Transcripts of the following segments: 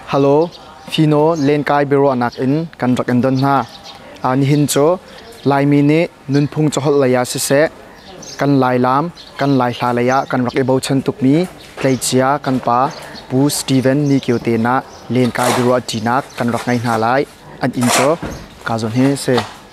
Halo, Fino lenkai biaruahnak in kan rak in don hna. Uh, nihin cu Laimi nih nunphung caholh lei ah siseh, kan Lailaam, kan Laihla lei ah kan rak i bochan tukmi tleicia kan pa Pu Stephen Nikio te nah lenkai biaruah ṭinak kan rak ngei hna lai. An inn cu Kazon hi a si.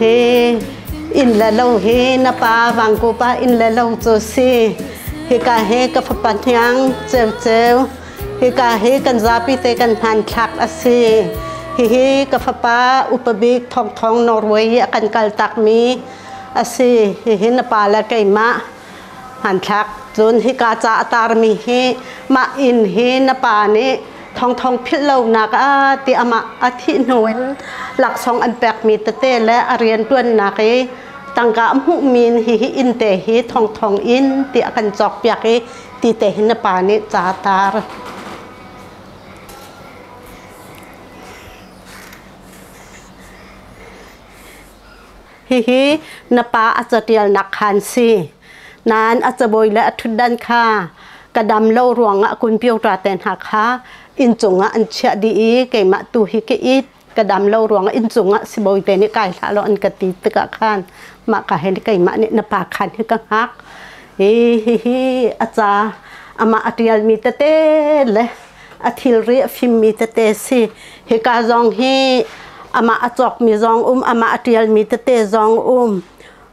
Hi inn le lo hi na pa Vangkupa inn le lo cu si. Hika hi ka fapa hniang ceu ceu. Hika hi kan zapi te kan hnan thlak a si. Hihi ka fapa upabik thongthong Norway i a kan kal takmi a si. Hihi na pa le keimah Hmanthlak. Cun hika ca a tarmi hi mah inn hi na pa nih thongthong philh lonak ah ti amah a thih hnu in laksawng an pekmi tete le a rianṭuannak i tangka a hmuhmi hihi innte hi thongthong in ti a kan cawkpiak i ti te hi na pa nih ca tar. Hihi na pa a catialnak khan si. Nain a cabawi le a ṭhutdan kha ka dam lo ruangah kun pioṭa te hna kha inn cungah an chiah dih i keimah tu hi ka it ka dam lo ruangah inn cungah sibawi te nih kai hlah law an ka ti tikah khan mah ka hin keimah nih na pa khan hi ka hngak i hihi a ca amah a ṭialmi tete le a thilri a fimmi tete si. Hika zong hi amah a cawkmi zong um, amah a ṭialmi tete zong um.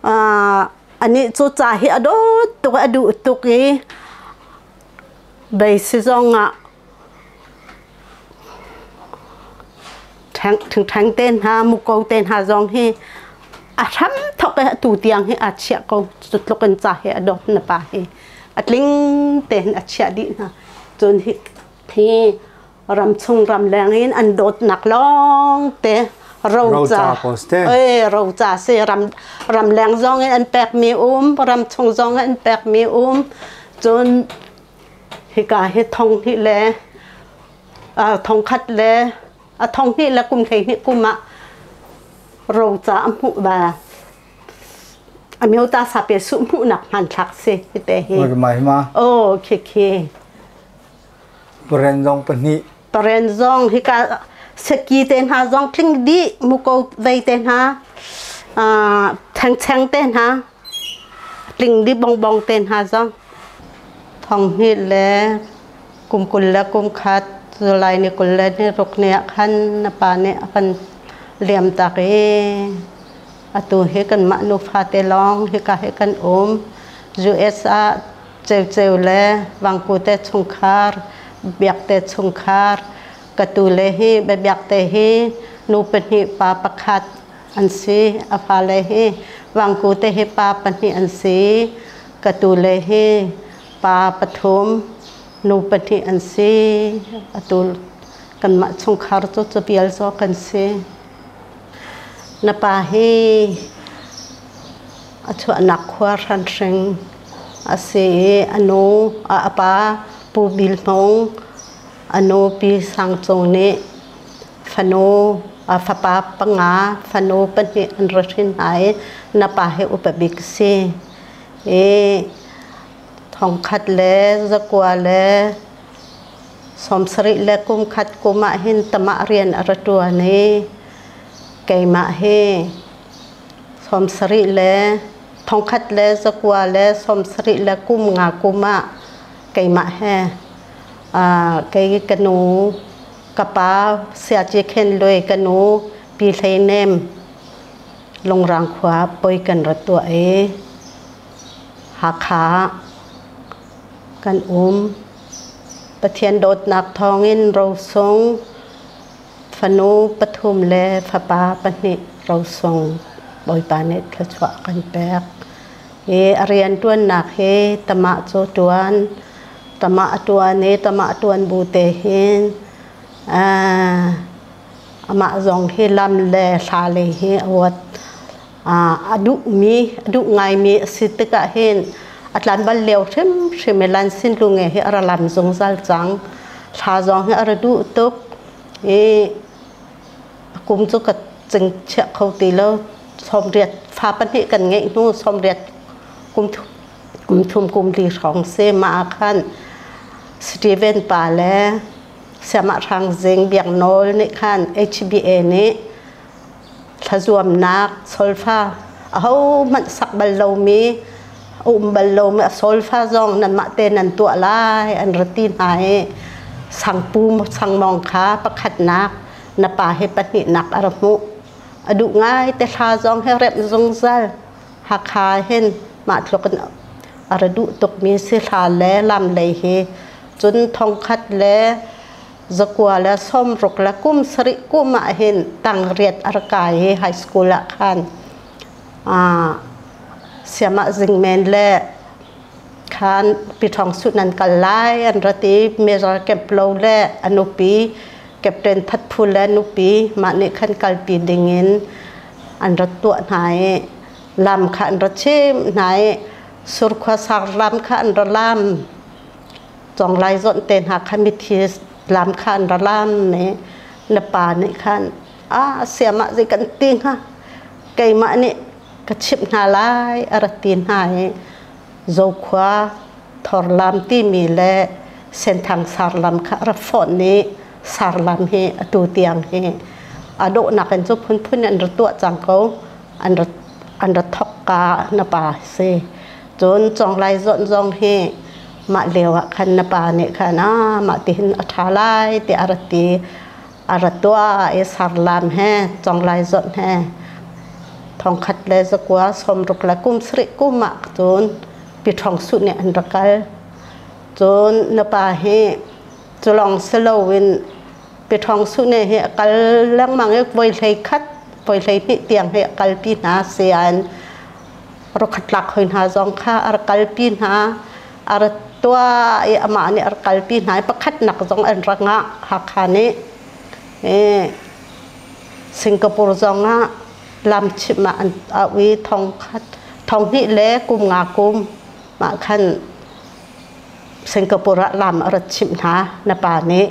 Uh, anih cu ca hi a dawt tuk, a duh tuk i beisi zong ah thingthang te hna muko te hna zong hi a hram thok e tu tiang hi a chiah ko cutluk in ca he a dot na pa hi a tling te a chiah dih hna cun hi hi ram chung ram leng in an dot nak long te roca eh roca si ram ram leng zong in an pek mi um ram chung zong an pek mi um cun hika hi thong hi le thongkhat le a thonghnih le kum hleihnih kum ah roca a hmuh va a myo ta sa pe su hmuh nak hmanthlak si hi te hi oh khi khi paren zong pahnih paren zong hi ka seki te hna zong tling di muko vei te hna theng cheng te hna tling di bongbong te hna zong thong hi le kum kul le kum khat July ni kul le ni ruk ni ah khan na pa nih a kan liamtak i atu hi kan mah nufate lawng hika hi kan um US ah ceuceu le vangku te chungkhar biak te chungkhar ka tu le hi biabiak te hi nu pahnih pa pakhat an si a fale hi vangku te hi pa pahnih an si ka tu le hi pa pathum nu pahnih an si atu kanmah chungkhar cu cabial zaw kan si na pa hi a chuahnak khua hranhring a si i a nu a pa pu Bil Hmung a nu Pi Sang Cung nih fanu a fapa panga fanu pahnih an ra hrin hna i na pa hi upa bik si i thongkhat le zakua le sawmsarih le kumkhat kum ah hin tamah rian a ra ṭuan i keimah hi sawmsarih le thongkhat le zakua le sawmsarih le kum nga kum ah keimah he kei ka nu ka pa Siaci Khen Lwe ka nu Pi Hlei Nem Lungrang khua poi kan ra tuah i Hakha ah kan um. Pathian dawtnak thawngin rosung fanu pathum le fapa pahnih rosung Bawipa nih thluachuah kan pek. I a rianṭuannak hi tamah cu ṭuan, tamah a ṭuan i tamah ṭuan bu te hin aa Amah zong hi lam le hla lei hi a ruat. Uh, a duhmi, a duh ngaimi a si tikah hin a tlan bal lio hrimhrim i Lansin Lunge hi a ra lam zungzal cang. Hla zong hi a ra duh tuk i a kum cu ka cing chiah kho ti lo. Sawmriat fa pahnih kan ngeih hnu sawmriat kum thum, kum thum kum li hrawng si. Mah ah khan Steven pa le Siamah Hrang Zing Biak Nawl nih khan HBA nih thlazuamnak solfa ahohmanh sak bal lomi a um bal lomi a solfa zong nanmah te nan tuah lai an ra ti hna i sangpu sangmawng kha pakhatnak na pa he pahnihnak a ra hmuh a duh ngai te thla zong he remh zungzal Hakha hin mah tluk in a ra duh tukmi si thla le lam lei hi Cun thongkhat le zakua le sawmruk le kum sarih kum ah hin tangriat a rak kai i high school ah khan aa siamah zing men le khan piṭhawng suh nan kal lai an ra ti major keplo le a nupi captain thatphul le nupi mah nih khan kalpi ding in an ra tuah hna i lam kha an ra chimh hna i surkhua sanglam kha an ra lam Conglai zonh te hna kha mithi lam kha an ra lam i na pa nih khan a siamah zei kan ti hnga keimah nih ka chimh hna lai a ra ti hna i Zokhua thorlam timi le Senthang sarlam kha ra fonh i sarlam hi atu tiang hi a dawhnak in cu phunphun in ra tuah cang ko an ra an ra thawk ka na pa a si Cun Conglai Zawn zong hi mah lio ah khan na pa nih khan ah mah tihin a ṭha lai tiah a rat i a ra tuah i sarlam he Conglai Zawn he thongkhat le zakua sawmruk le kum sarih kum ah cun piṭhawng suh nih an ra kal. Cun na pa hi cu lawng si loin piṭhawng suhne hi a kal lengmang i voi hlei khat, voi hlei hnih tiang hi a kalpi hna sian. rokhatlak hoi hna zong kha ar kalpi hna ar tuah i amah nih ar kalpi hna i pakhatnak zong an ra ngah Hakha nih e, Singapore zong ah lamchim ah an au i thong khat thong hnih le kum nga kum mah khan Singapore ah lam a rat chimh hna na pa nih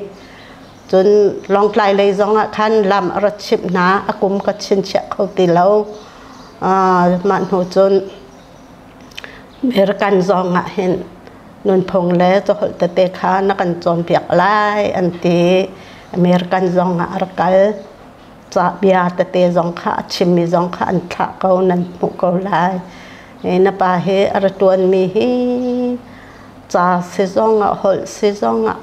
Cun Lawngtlai lei zongah khan lam a rat chimh hna, a kum ka chinchiah kho ti lo. Mah hnu cun American zongah hin nunphung le caholh tete kha na kan cawnpiak lai an ti. American zongah a rak kal. Ca bia tete zong kha a chimmi zong kha an thlah ko, nan hmuh ko lai. Na pa hi a ra ṭuanmi hi ca si zongah, holh si zongah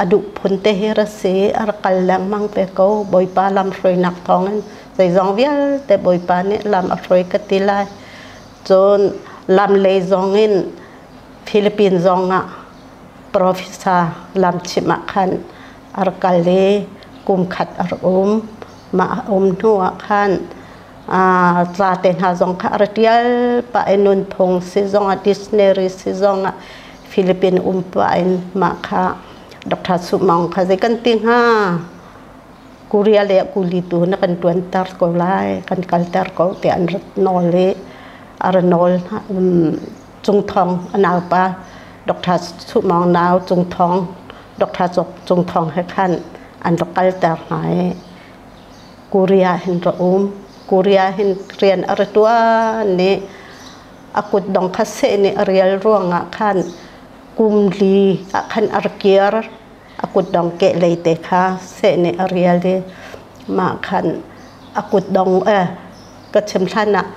a duh phun te hi ra si a ra kal lengmang te ko bawipa lam hruainak thawng in zeizong vialte bawipa nih lam a hruai ka ti lai cun lam lei zong in Philippines zong ah profesa lamchim ah khan a ra kal i kum khat a ra um mah a um hnu ah khan ca te hna zong kha a ra ṭial pah i nunphung si zong ah dictionary si zong ah Philippine um pah in mah kha Dr. Su Maung kha zei kan ti hnga? Korea le kuli tu na kan tuanter ko lai, kan kalter ko tiah an rat nawl i a ra nawl um, Cung Thong a naupa Dr. Su Maung nau Cung Thong Dr. Cung Thong he khan an ra kalter hna i Korea hin ra um Korea hin rian a ra tuan i a kutdong kha seh nih a rial ruangah khan kum li ah khan ar kiar a kutdong keh lei te kha seh nih a rial i mah khan a kutdong eh ka chim hlan ah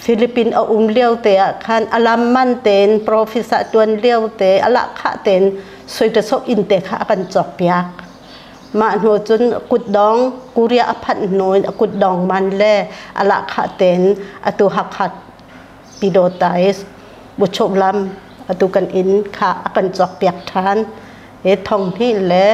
Philippine a um lio te ah khan a lam man tein profis ah tuan lio te a lah khah tein soitasok in te kha a kan cawk piak mah hnu cun kutdong kuria a phanh hnu in a kutdong man le a lah khah tein a tu hakhat Pidawtais buchuklam atu kan inn kha a kan cawkpiak ṭhan i thonghnih le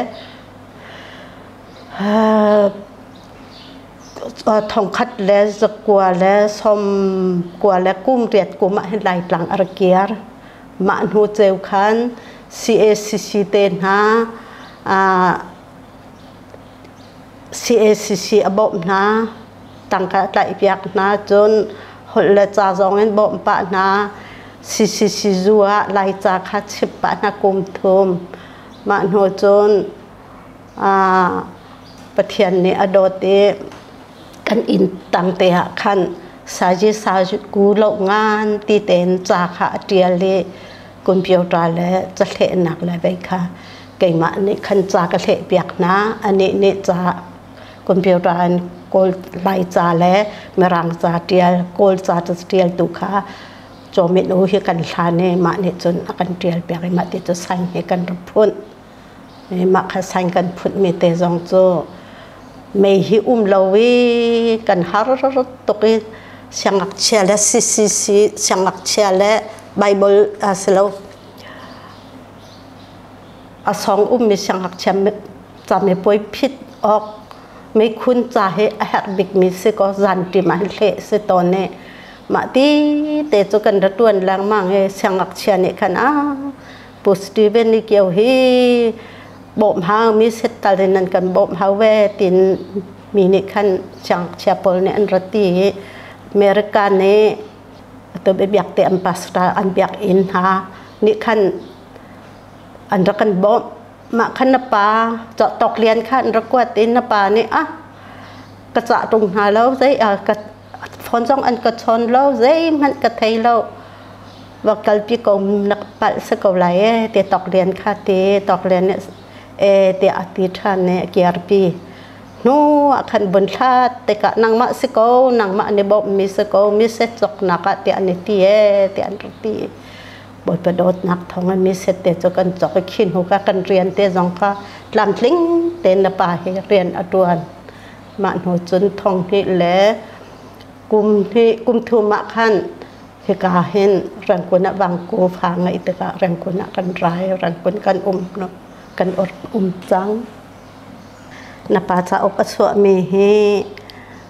thongkhat le zakua le sawmkua le kum riat kum ah hin Laitlang a ra kiar. Mah hnu ceu khan CACC te hna CACC a bawmh hna. tangka tlaihpiak hna cun holh le ca zongin bawmh pah hna CCC zu ah laica kha chip pah hna kum thum mah hnu cun Pathian nih a dawt i kan inn tangte ah khan saji saku lo ngan ti tein ca kha a ṭial i computer le cahlehnak le vei kha keimah nih khan ca ka hlehpiak hna anih nih ca computer an kawl hmaica le mirangca ṭial kawlca ṭialtu kha cawmin u hi kan hlan i mah nih cun a kan ṭial piak i mah ti cu sign hi kan ra phunh i mah kha sign kan phunhmi te zong cu mei hi um lo i kan har tuk i siangngakchia le CCC siangngakchia le Bible a si lo a sawng ummi siangngakchia camipuai phit awk meikun ca hi a herh bikmi si ko zanṭim ah hleh si tawn i mah tete cu kan ra ṭuan lengmang i siangngakchia nih khan a Pu Steven i kio hi bawmh hangmi set tal in an kan bawmh hau ve tiin mi nih khan siangngakchia pawl nih an rat i America nih atu biakte ambassador an biak inn hna nih khan an rak kan bawmh. Mah kha na pa cawhtawk lian kha an rak kuat i na pa nih ah ka cah ṭung hna lo zei ah ka phone zong an ka chawn lo zeihmanh ka thei lo va kalpi ko na palh si ko lai ee ti tawklian kha ti tawklian nih ee tiah a ti ṭhan i a kiarpi hnu ah khan vun thlat tikah nangmah si ko nangmah an i bawmhmi si ko mi setsawknak ah tiah an i ti ee tiah an rak ti Bawipa dawtnak thawng in miset te cu kan cawk i khi hnu ka kan rian te zong kha tlamtling tein na pa hi rian a ṭuan. Mah hnu cun thong hnih le kum hnih kum thum ah khan hika hin Rangkun ah Vangku fa ngeih tikah Rangkun ah kan ra i Rangkun kan um kan um cang. Na pa cauk a chuahmi hi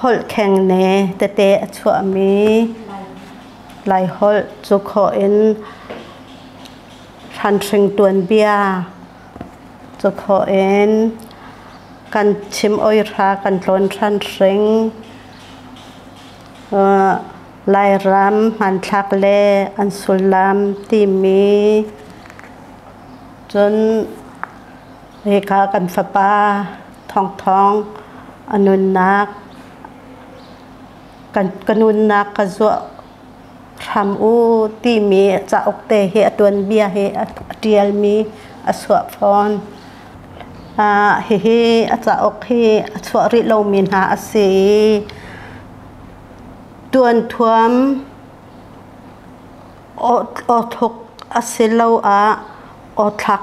Holh khengne tete a chuahmi Laiholh cu khawh in hranhring tuanbia cu khawh in kan chim oihra kan tlawn hranhring Lairam hmanthlak le an sullam timi cun hika kan fapa thawngthawng a nunnak ka nunnak ka zuah hram u timi cauk te hi a tuanbia hi a ṭialmi a chuah fawn. Uh, hihi a cauk hi a chuah rih lomi hna a si i tuanthuam aw thuk asiloah aw thlak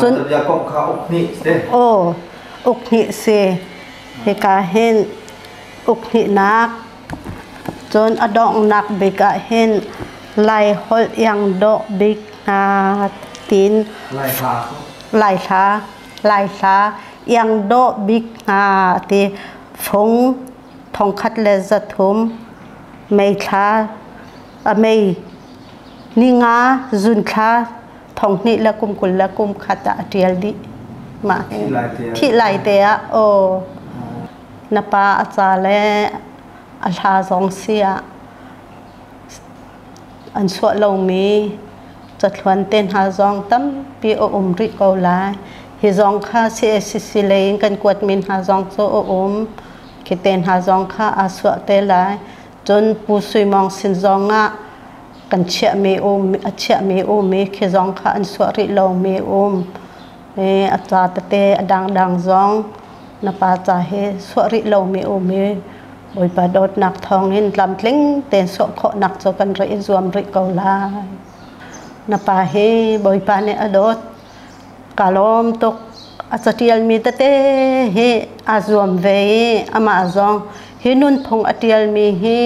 Cun aw uk hnih si hika hin uk hnihnak cun a donghnak bik ah hin Lai holh iang dawh bik hna tiin Lai hla Lai hla iang dawh bik hna ti fung thongkhat le zathum mei thla a mei ninga zunthla thong hnih le kum kul le kum khat ah a ṭial dih. Mah thih lai te ah aw na pa a ca le a hla zong si ah an suah lomi cathluan te hna zong tampi a um rih ko lai. Hi zong kha CACC lei in kan kuat mi hna zong cu a um. Khi te hna zong kha aa suah te lai. Cun Pu Sui Mawng sin zong ah kan chiahmi um a chiahmi um i khi zong kha an suah rih lomi um i a ca tete a dangdang zong na pa ca hi suah rih lomi um i Bawipa dawtnak thawng in tlamtling tein suah khawhnak cu kan rak i zuam rih ko lai. Na pa hi Bawipa nih a dawt. Kaa lawm tuk. A caṭialmi tete hi aa zuam ve i amah zong hi nunphung a ṭialmi hi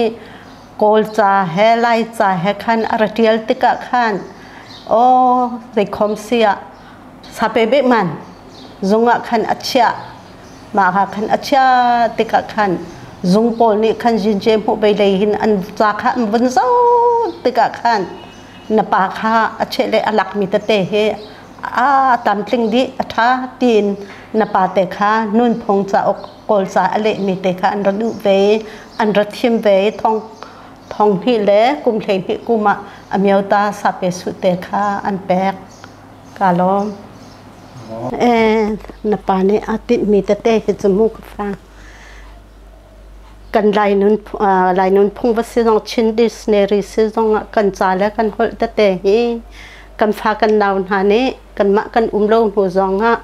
Kawlca he Laica he khan a ra ṭial tikah khan aw zeikhom si ah sape behman zungah khan a chiah, mahka khan a chiah tikah khan zung pawl nih khan zince hmuh bei lei hin an ca kha an vun zoh tikah khan na pa kha a cheh le a lakmi tete hi a tam tling dih a ṭha tiin na pate kha nunphung cauk kawlca a lehmi te kha an ra duh ve an ra thim ve thong thong hnih le kum hleihnih kum ah a miota sape su te kha an pek ka lawm eh na pa nih aa tinhmi tete hi cu mu ka fang kan lainun lainun phung va si zong Chin dictionary si zong ah kan ca le kan holh tete hi kan fa kan nau hna nih kanmah kan um lo hnu zong ah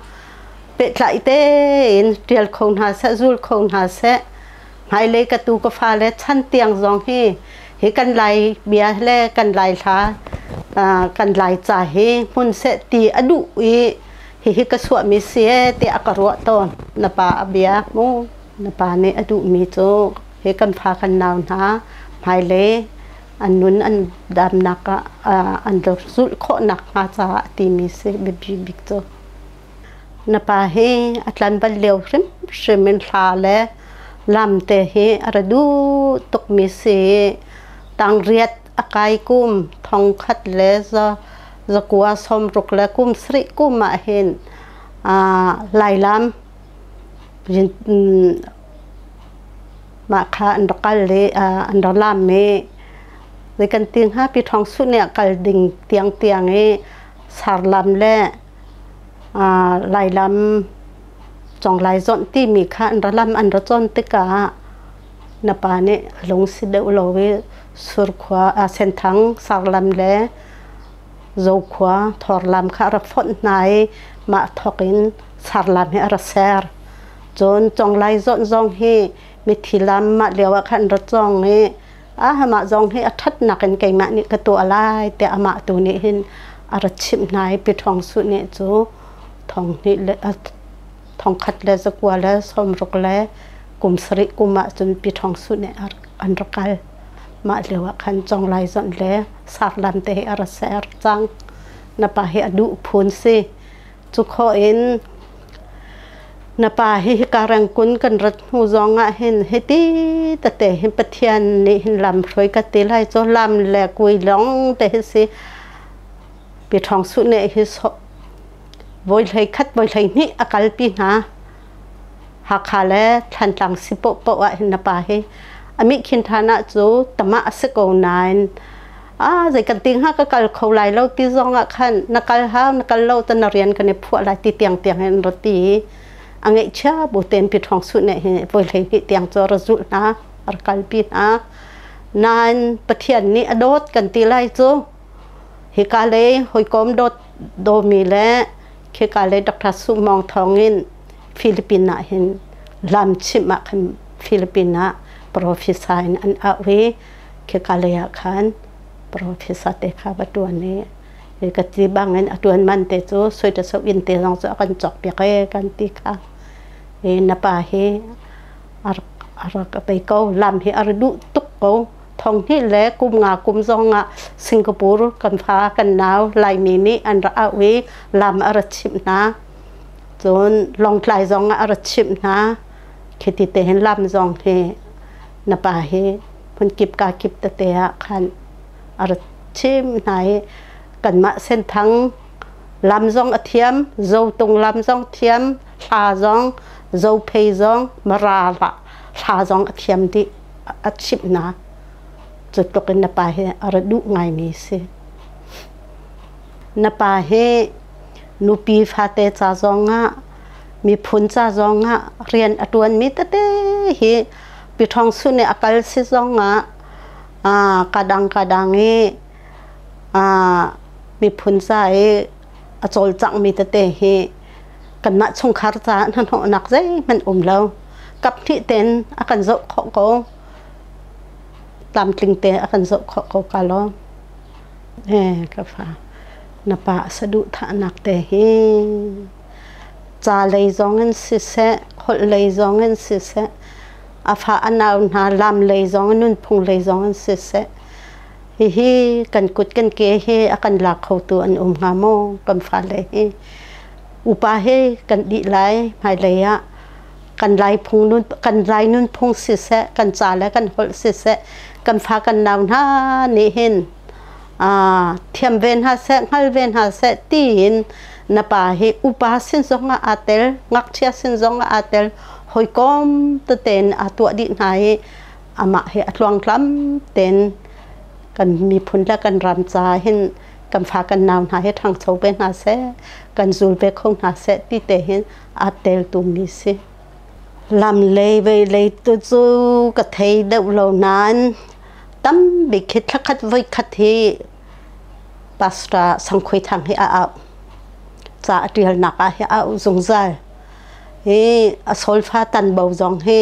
pehtlaih tein ṭial kho hna seh zul kho hna seh hmailei ka tu ka fa le chan tiang zong hi hi kan lai bia le kan lai hla kan lai ca hi hmun seh ti a duh i hihi ka suahmi si e ti a ka ruah tawn na pa a bia mu Na pa nih a duhmi cu hi kan fa kan nau hna hmailei an nun an damnak ah an do zulh khawhnak hnga caah a timi si biapi bik cu. Na pa hi a tlan bal lio hrimhrim in hla le lam te hi a ra duh tukmi si i tangriat a kai kum thongkhat le zakua sawmruk le kum sarih kum ah hin aa lailam Mah kha an rak kal i an rak laam i zei kan ti hnga pi ṭhawng suh nih a kal ding tiangtiang i sarlam le lailam conglai zawnh timi kha an ra lam an ra cawn tikah na pa nih a lung si deuh lo i surkhua senthang sarlam le Zokhua thawrlam kha a ra fonh hna i mah thawk in sarlam hi a ra ser. Cun conglai zawnh zong hi mithi lam mah lio ah khan ra cawng i a mah zong hi a ṭhatnak in keimah nih ka tuah lai tiah amah tu nih hin a ra chimh hna i Pi Ṭhawng Suh nih cu thong hnih le a thong khat le zakua le sawmruk le kum sarih kum ah cun Pi Ṭhawng Suh nih an ra kal. Mah lio ah khan conglai zonh le sarlan te hi a ra ser cang. Na pa hi a duh phun si. Cu khaw in na pa hi hika rengkun kan rat hnu zong ah hin hiti tate hin Pathian nih hin lam hruai ka ti lai cu lam le kui lawng te hi si. Pi Ṭhawng Suh nih hi vawi hlei khat vawi hlei hnih a kalpi hna. Hakha le Thlantlang si pohpoh ah hin na pa hi a mih khin than ah cu tamah a si ko nain ah zei kan ti hnga ka kal kho lai lo ti zong ah khan na kal hau na kal lo ta na rian kan i phuah lai ti tiang tiang in rat ti i a ngeih chia bu ten pi thong su ne hi voi hlei hnih tiang cu ra zulh hna ar kalpi hna nain Pathian nih a dawt kan ti lai cu hika lei hawikom dawt Domi le khika le Dr. Sumawng thawngin Philippines ah hin lamchimh ah khan Philippines ah professor in an auh i khika lei ah khan professor te kha va ṭuan i ka ti bangin a ṭuan man te cu soitasok inn te zong cu a kan cawkpiak e kan ti kha i na pa hi a rak a pei ko lam hi a rak duh tuk ko Thonghnih le kum nga kum zong ah Singapore kan fa kan nau Laimi nih an rak auh i lam a ra chimh hna. Cun Lawngtlai zong ah a ra chimh hna. Khi ti te hin lam zong hi na pa hi hmun kip ka kip tete ah khan a ra chim hna i kanmah Senthang lam zong a thiam, Zotung lam zong thiam, hla zong, Zophei zong, Mara hla zong a thiam dih. a chimhnak cu tluk in na pa hi a ra duh ngaimi si. Na pa hi nupi fate ca zongah miphun ca zongah rian a ṭuanmi tete hi piṭhawng sun i a kal si zongah aa kadang kadang i aa miphun ca i a cawlcanghmi tete hi kanmah chungkhar caah hnahnawhnak zeihmanh um lo kaphnih ten a kan zoh khawh ko tlamtling te a kan zoh khawh ko ka lo eh ka fa na pa saduhthahnak te hi ca lei zong in siseh holh lei zong in siseh a fa a nau hna lam lei zong in nunphung lei zong in siseh Hihi kan kut kan ke he a kan lak khotu an um hnga maw? Kan fale hi upa he kan dih lai hmailei ah kan lai phung nun kan lai nunphung siseh kan ca le kan holh siseh kan fa kan nau hna nih hin aa thiam ve hna seh hngal ve hna seh tiin na pa hi upa sin zong ah aa tel ngakchia sin zong ah aa tel hawikawm tete in aa tuah dih hna i amah hi a tluangtlam tein kan miphun le kan ram caah hin kan fa kan nau hna hi ṭhangcho ve hna seh kan zul ve kho hna seh ti te hin aa teltu mi si lam lei vei lei tu cu ka thei deuh lo nain tam bik khi thlakhat voi khat hi pastor sangkhui thang hi a au ca a ṭialnak ah hi a au zungzal hi a solfa tan bo zong hi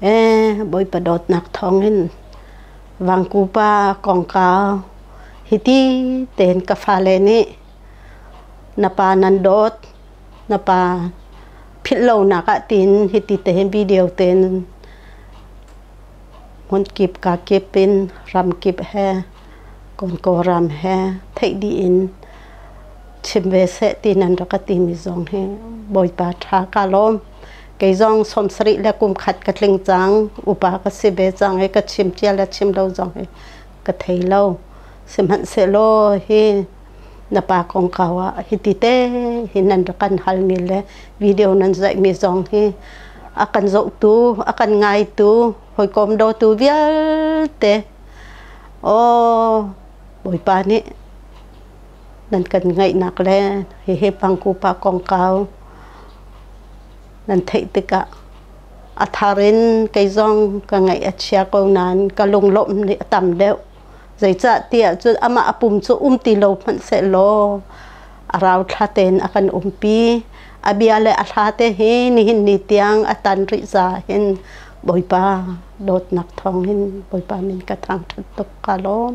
Bawipa dawtnak thawngin vangkupa kongkau hiti tein ka fale nih na pa nan dawt na pa philhlonak ah tiin hiti tehin video tein hmun kip ka kip in ram kip he Konko ram he theih dih in chim ve seh ti nan rak ka timi zong hi Bawipa tha ka lawm. kei zong sawmsarih le kum khat ka tling cang upa ka si ve cang i ka chim cia le chim lo zong hi ka thei lo sihmanhsehlaw hi na pa kongka ah hiti te hi nan kan halmi le video nan zaihmi zong hi a kan zohtu a kan ngaitu hawikom dotu vialte aw bawipa nih nan kan ngaihnak le hihi pangkupa kongkau nan theih tikah a thar in kei zong ka ngaih a chia ko nain ka lunglawmh nih a tam deuh zeicahtiah cun amah a pum cu um ti lo hmanhsehlaw a rauthla tein a kan umpi a bia le a hla te hi nihin ni tiang a tan rih za hin Bawipa dawtnak thawng in Bawipa min ka thangṭhat tuk ka lawm.